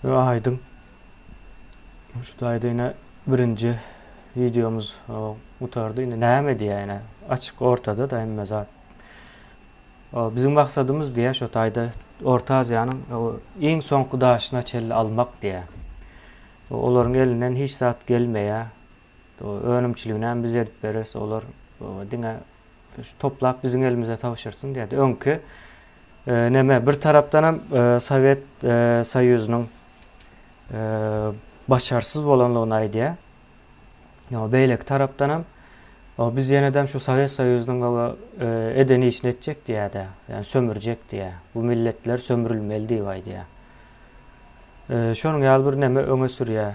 Ýöne aýdyň. Şu taýda ýene birinji wideomyz gutardy. Indi näme diýýär ýene? Açyk ortada da hemme zat. Biziň maksadymyz diýýär şu taýda Orta Aziýanyň iň soňky daşyna çenli almak diýýär. Olaryň elinden hiç zat gelmeýär. Önümçiliginem biz edip bereris, olar diňe şu toplap biziň elimize tabşyrsyn diýýärdi. Öňki neme bir tarapdanam Sowet Soýuzynyň başarsyz bolanlygyny aýdýar. Ýa beýleki tarapdanam biz ýenedem şu Sowet Soýuzynyň eden işini etjek diýýärdi. Ýa sömürjek diýýär. Bu milletler sömrülmeli diýip aýdýar. Şonuň ýaly bir neme öňe sürýär.